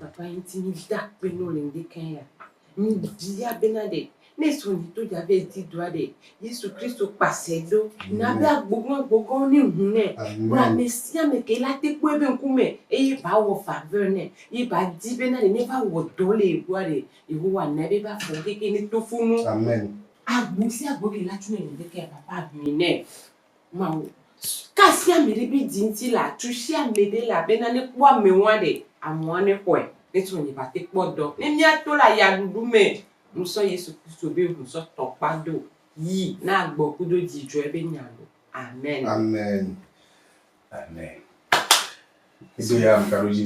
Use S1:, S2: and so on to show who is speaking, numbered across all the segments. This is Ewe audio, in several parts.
S1: Papa yi ŋuti míede akpe nɔ le ŋɖekɛ ya, míebia bena ɖe ne srɔ̃ yi to dza be edi doa ɖe Yesu Kristo kpasɛ do na be agbogɔn agbogɔn ne ŋu nɛ kple ame sia ame ke la te kpɔe be ŋkume eye ba wɔ faveur nɛ ye ba di bena ɖe ne va wɔ dɔ le yegbɔa ɖe Yehowa na be ba fɔ keke ne tofonu agbo
S2: sia agbo
S1: ke la tso nɛ le ŋɖekɛ ya papa ŋui nɛ. Mawu. Ka asi ame ɖe be dzi ŋuti le atu si ame ɖe le abe nane kpɔ ame ŋua ɖe ameɔa ne xɔe ne sɔ nye bate kpɔ dɔ. Ne mía to le aya ɖuɖu me, nu sɔ Yesu Kristo be ŋu sɔ tɔ kpa do yi na agbɔ kudo dzi dzɔɛ be nya lo. Amen. Amen.
S2: Amen. Mi do ya ŋka ɖo dzi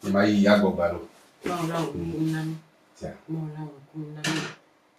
S2: be ma yi ya gbɔ gba lo. Mawu la wɔ ŋku
S1: na mi. Mawu
S2: la wɔ ŋku na
S1: mi.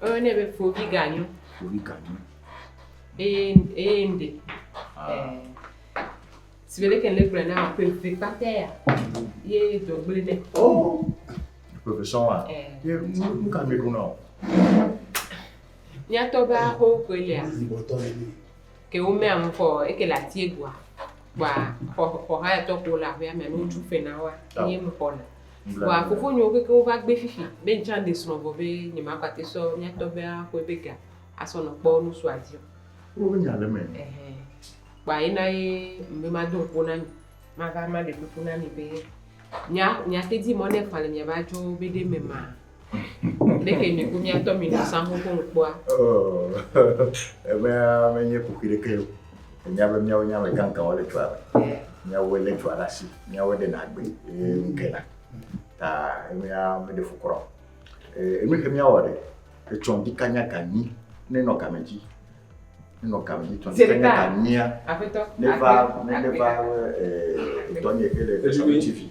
S3: Woyɔnɛ be
S1: fovi ganyo. Fovi ganyo.
S3: Eye eye ŋɖe.
S1: Sigbe leke le gblɔ na wa ƒe ƒe kpata ya ye dɔgble ne.
S3: Oh. Profession wa. Ye nu ka mi ɖo na o.
S1: Miatɔ be aho koe lia. Ke wo mɛ amu kɔ eke le atie gua. Gua xɔ xɔ ha ya tɔ ko la ƒe amɛ no tu fe na wa. Ye mu kɔ na. Vɔa fofonyewo kekeŋ wova gbé fifi be ŋtsã ŋɖe srɔ̃ vɔ be nye ma kpate sɔ mía tɔgbé a xɔɛ be ga a sɔ nɔ kpɔ nusu a dzi o. Wo be nya le eme.
S3: Ɛhɛ. Kpoa
S1: ye na ye ŋbe ma do ŋkpo na mi, ma va ma ɖe kuku na mi be mía mía te di mɔ ne eƒã le mía be adzɔwo be ɖe me ma. Ɖeke mi ku miatɔ mi nɔ sango ko kpɔa.
S3: Ebe menye kuku ɖeke o. Enya be miawo nya me kankan wole tsoa me. Miawo le tsoa ɖe asi. Miawo ɖe na gbe ye ŋke na. Ta emea me ɖe fu kura o. Enu ke miawo ɖe etsɔ ŋdi kanya kanyi ne nɔ kame dzi. Ne nɔ kame dzi tsɔ ŋdi kanya kanyia. Afetɔ. Ne va
S1: ne
S3: va etɔ nye ke le Elisabeth TV.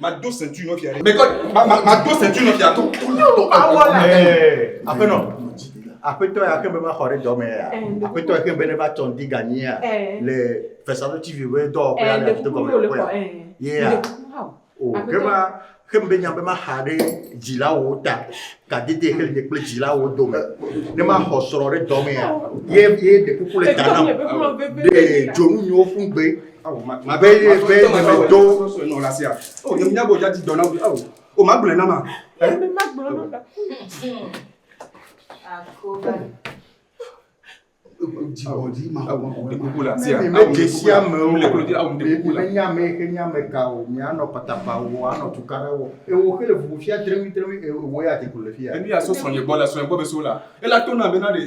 S4: Mado sentui nɔ fia ɖe. Mekɔ ma ma mado sentui nɔ fia to. Yolo awɔ la.
S3: Aƒenɔ. Aƒetɔ ya ke be va xɔ ɖe dɔ me ya. Aƒetɔ ya ke be ne va tɔn di ganyi ya le Fesalo TV be dɔ ƒe ya le aƒetɔ gɔme le ƒe. Yeah. O ke va ke be nya be ma xa ɖe dzila wo ta. Ka dede ke le kple dzila wo dome. Ne ma xɔ srɔ ɖe dɔ me ya. Ye ye de kuku le ta na. De dzonu nyo fun gbe. Oh, ma, ma, be ye
S4: be ye me do nɔ la sia. Oh, nye nya bo jadi dɔna bi. Oh, oh ma gblɔ na ma.
S1: Eh? Me
S5: ma gblɔ na ma. Akoba. Jibodi ma ko ma ko la sia.
S4: Me ke sia me
S3: o. Le ko di awu de ko la.
S4: Me nya me ke nya me
S3: ka o. Mi anɔ patapa o, anɔ tukara o. E wo ke le vuvu fia tremi tremi e wo ya te ko le fia. Enu ya so sɔnye gbɔ la, sɔnye
S4: gbɔ be so la. E la to na me na de.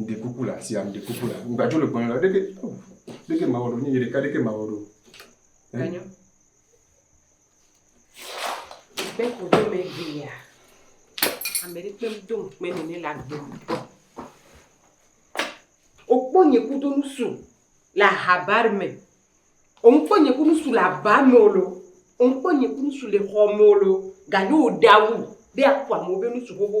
S4: ŋɖe kuku le asia ŋɖe kuku le ŋgbadzo le gbɔnyɔ ɖeke ɖeke mawɔ ɖo nyinyi ɖeka ɖeke mawɔ ɖo enyo
S1: be ko do me via ame ɖe kpem do ŋkpe ne ne le agbe ŋutɔ okpɔ nye kudo nusu le ahabar me oŋkpɔ nye kudo nusu le aba me o lo oŋkpɔ nye kudo nusu le xɔ me o lo ganye o ɖawu be akpɔ amewo be nusu xoxo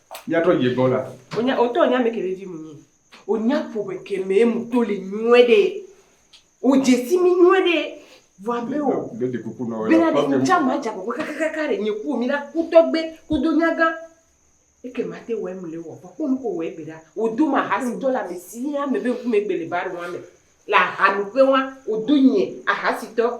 S4: Míatrɔ yi egbɔ la. Onya otɔ nya me
S1: ke vevi mu nyi. Onya ƒoƒe ke me mu to le nyuie ɖe. O jesi mi nyuie ɖe. Vɔ abe o. Be de kuku nɔ. Bena
S4: de nu tsa ma dza kɔkɔ
S1: kakakaka ɖe nye ku mi la ku tɔgbe ku do nya gã. Eke ma te wɔ emle wɔ vɔ ko nu ko wɔ egbe ɖa. O do ma hasi tɔ la me si ya me be ŋkume gbe le ba ɖe wa me. La ha nu ƒe wa o do nye ahasi tɔ.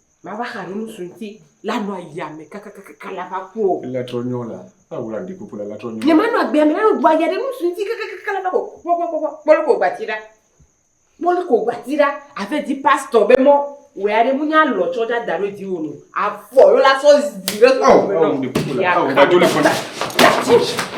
S1: mava xa ɖe nusu ŋuti la nɔ yame kakakaka la va ku o. Ele trɔ nyɔ la,
S4: awo la ɖi kuku la la trɔ nyɔ. Nyema nɔ agbea me la nɔ gbɔa
S1: ya ɖe nusu ŋuti kakakaka la va ko kpɔkpɔkpɔkpɔ kpɔlu ko gbati ɖa. Kpɔlu ko gbati ɖa ave di pastɔ be mɔ wɛ aɖe mu nya lɔ tsɔ ɖa da ɖo di wo no. Avɔ yo la sɔ zi ɖe sɔ. Awo awo ɖi kuku la
S4: awo va do le fɔ la. That's it.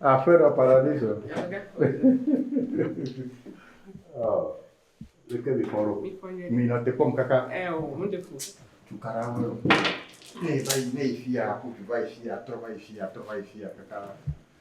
S3: Afuera paradiso. oh. Leke mi fɔrɔ. Mi nɔ te kpɔm kaka. Ɛ o, mo de fo.
S1: Tukara wo yɔ.
S3: Ne va yi ne yi fia, ko vi va yi fia, trɔ va yi fia, trɔ va yi fia kaka.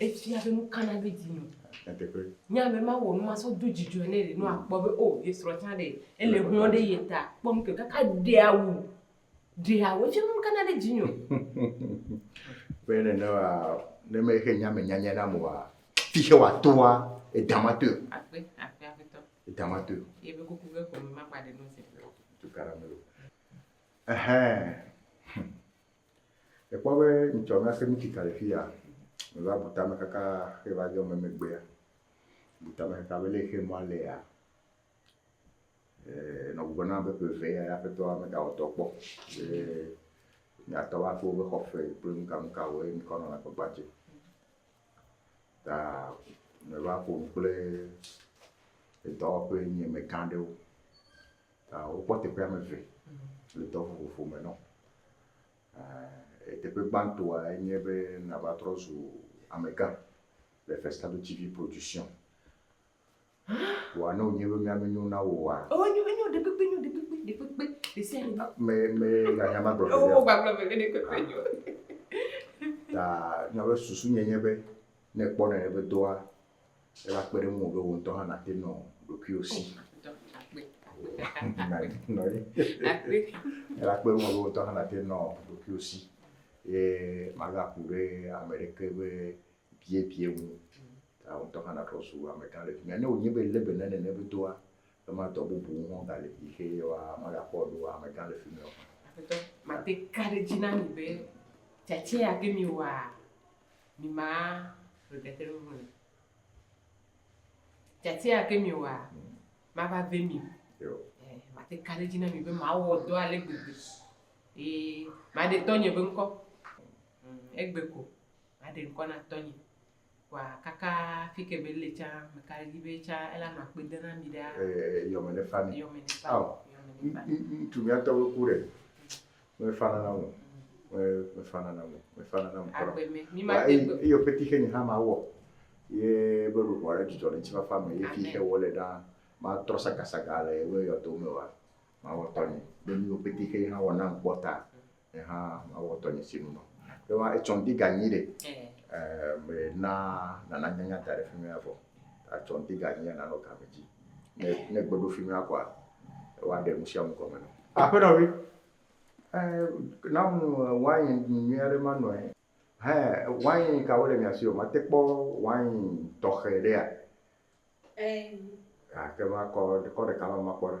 S1: efia be nu kana ɖe dzi nɔ nye ame ma wɔ numa so do dzidzɔ ne ɖe nua kpɔ be o ye srɔ tsã ɖe ele hlɔ ɖe ye ta kpɔ nu ke kaka ɖe awu ɖe awu etsi nu kana ɖe dzi nɔ.
S3: be ne ne wa ne me xe nya me nya nya na mo wa fi xe
S1: wa
S3: to wa edama to. akpe akpe akpetɔ. edama to. ye be kuku ke kɔme
S1: ma kpa ɖe nɔnse. tu karamelo.
S3: ɛhɛn. Ekpɔ be ŋutsua mate ŋu tsi tre ɖe afi ya o. Wòva bu tame kaka hafi va dzɔ megbea, bu tame kaka be ne exe mɔa alea, eer nɔ gbugbɔ nam be ƒe eve ye Aƒetɔ megawɔ dɔ kpɔ be yeatɔ va ƒe woƒe xɔ ƒee kple nukanukawoe ŋkɔ nɔ la gbagba dzi o. Ta meva ƒo nu kple edɔwɔƒe nye megã aɖewo. Ah, wokpɔ teƒe ame eve le dɔ vovovo me nɔ. Ah, teƒe gbãtɔa enye be nava trɔ zu amegã le Festado TV Production. Wòa ne wònye be mía menyo na wò oa? Oh, enyo, enyo, ɖekpekpe
S1: nyo, ɖekpekpe, ɖekpekpe, ɖe sia ɖe. Ah, me, me,
S3: ganya magblɔ ƒe ɖe. Oh, gbagblɔ ƒe ɖe, ɖekpekpe
S1: ah. nyo. Ta,
S3: nyabe susu nye nye be, ne kpɔ nane be doa, ela kpe ɖe ŋuwò be wò ŋutɔ hã nàte nɔ ɖokuiwò si. Ela kpe ɖe ŋuwò be wò ŋutɔ hã nàte nɔ ɖokuiwò si. Ye magaku ɖe ame ɖeke be biebie ŋu. Ta wò ŋutɔ hã nàtrɔ zu amegã le fi mía. Ne wònye be lé be ne nene be doa, ema dɔ bubu ŋu hã gali yi xe yewoa, magakpɔ ɖo amegã le fi mía o. Aƒetɔ, mate
S1: ka ɖe edzi na mi be tsatsia ke miwɔa mima ƒe ɖeke nu le. Tiatia ke mi wa ma va ve mi. Eh, ma te ka ɖe dzi na mi be ma wɔ dɔ ale gbegbe. Ee, ma ɖe tɔnye be ŋkɔ. Mm, egbe ko ma ɖe ŋkɔ na tɔnye. Wa kaka fike be le tsa me ka ɖe dzi be tsa ela ma kpe de na mi ɖa. Eh, yɔme ne fa mi. Yɔme ne fa. Aw.
S3: Yɔme ne
S1: fa. Ŋtu
S3: mi atɔ be ku ɖe. mefana na mo mefana na mo mefana na mo kɔrɔ
S1: eyo peti xe nye hã ma wɔ
S3: ye be ɖoɖo aɖe dzidzɔ le tsifafa me ye fi xe wɔ le ɖa ma trɔ sagasaga le ye yɔ to me wa ma wɔ tɔ nye be mi yo peti xe hã wɔ na kpɔ ta ye hã ma wɔ tɔ nye si nu ye wa etsɔn di ganyi de eh me na nana nyanya da ɖe fi mi avɔ Atsɔ ŋdi ganyi ya nanɔ game dzi. Ne ne gbe ɖofi nua kɔa, ewa ɖe nusiamu gɔme nɔ. Aƒenɔ vi, e, nam wain nyuie aɖe ma nɔe. Hɛ, wain kawo le mia si o? Mate kpɔ wain tɔxɛ ɖea? Ɛɛ. Gake makɔ, kɔ ɖeka ma makpɔ ɖa.